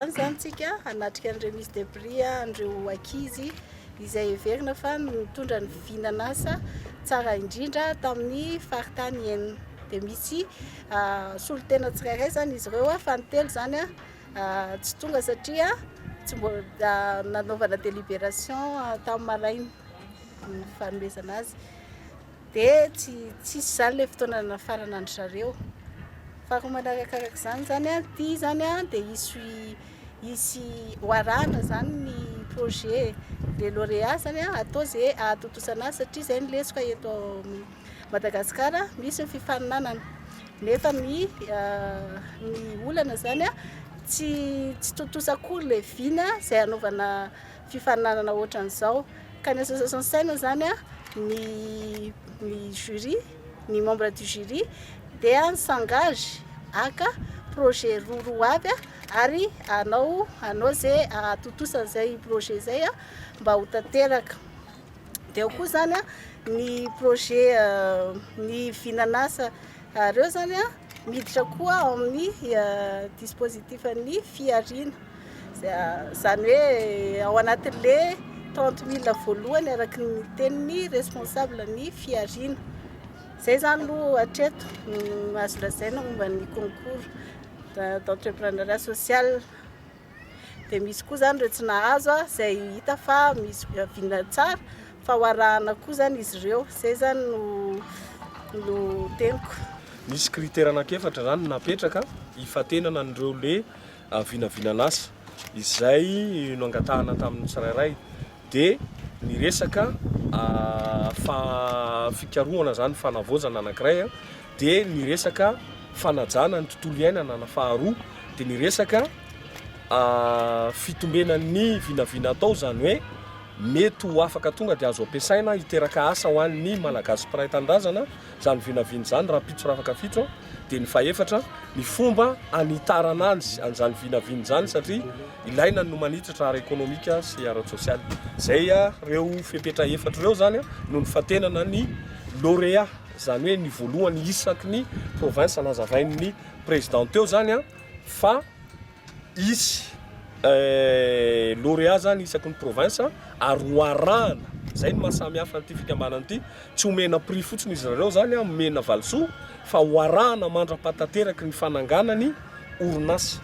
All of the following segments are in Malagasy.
Androany izany isika hanatrika ny remise de prix an'ireo ankizy izay heverina fa nitondra ny vinan'asa tsara indrindra tamin'ny faritany enina. Dia misy solontena tsirairay izany izy ireo fa ny telo izany tsy tonga satria tsy mbola nanaovana délibération tamin'ny maraina ny fanomezana azy. Dia tsy tsisy izany ilay fotoana nafarana an-dry zareo. Fako manarakaraka izany izany an, ity izany an dia hisy hisy ho arahana izany ny projet de lauréat izany an, atao izay hahatotosana azy satria izay no lesoka eto Madagasikara, misy ny fifaninanana nefa ny ny olana izany an tsy tsy tontosa akory ilay vina izay hanaovana fifaninanana ohatran'izao ka ny association saina zany a ny ny jury ny membre du jury dia ny sangage aka projet roa roa avy a ary anao anao ze atontosa an'izay projet zay a mba ho tanteraka dia ao koa zany a ny projet euh, ny vinanasa reo zany a miditra koa ao amin'ny euh, dispositif an'ny fihariana Izany hoe ao anatin'le 30 mille voalohany araky ny tenin'ny responsable ny fihariana. Izay zany lo hatreto no azo lazaina momba ny concours d'entrepreneuriat social. Dia misy koa zany ireo tsy nahazo izay hita fa misy vina tsara fa ho arahana koa zany izy ireo. Izay zany no no teniko. Nisy critère anankiefatra zany napetraka hifantenana an'ireo le vinavinan'asa izay noangatahana tamin'ny tsirairay dia ny resaka fikarohana izany fanavaozana anankiray dia ny resaka fanajana ny tontolo iainana na faharoa dia ny resaka fitombena ny vinavina atao izany hoe mety ho afaka tonga dia azo ampiasaina hiteraka asa ho an'ny malagasy mpiray tanindrazana Izany vinavina izany rahampitso rafakafitso dia ny fahefatra ny fomba hanitarana anzy an'izany vinavina izany satria ilaina ny no manitatra ara ekonomika sy ara tsosialy. Izay ireo fepetra efatra ireo izany no nifantenana ny lauréat izany hoe ny voalohany isaky ny province nazavain'ny président teo izany fa hisy lauréat zany isaky ny province ary ho arahana zay ny mahasamihafa an'ity fikambanana ity tsy omena prix fotsiny izy ireo zany a omena valisoa fa ho arahana mandra-pahatanteraky ny fananganany orinasa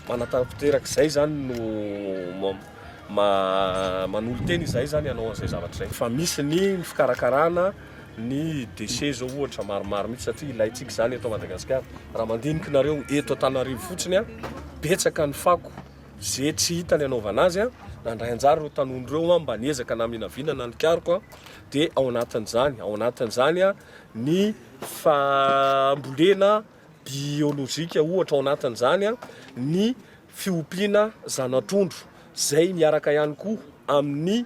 manatanteraka izay zany no manolo tena izay zany hanao an'izay zavatra izay fa misy ny fikarakarana ny déchets zao ohatra maromaro mihitsy satria ilaintsika izany eto Madagasikara. Raha mandiniky nareo eto Antananarivo fotsiny a, betsaka ny fako ze tsy hita ny anaovana azy a, nandray anjara ireo tanony ireo a, mba niezaka naminavinana ny karoko a, dia ao anatin'izany, ao anatin'izany a, ny fambolena biolojika ohatra ao anatin'izany a, ny fiompiana zana-trondro, izay miaraka ihany koa amin'ny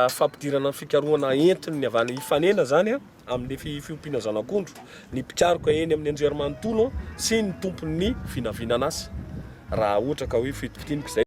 fampidirana ny fikarohana entiny ny avy any Ifanena izany amin'ny fiompiana zanak'ondro ny mpikaroka eny amin'ny anjerimanontolo sy ny tompon'ny vinavinanas raha ohatra ka hoe fitokitiniko izay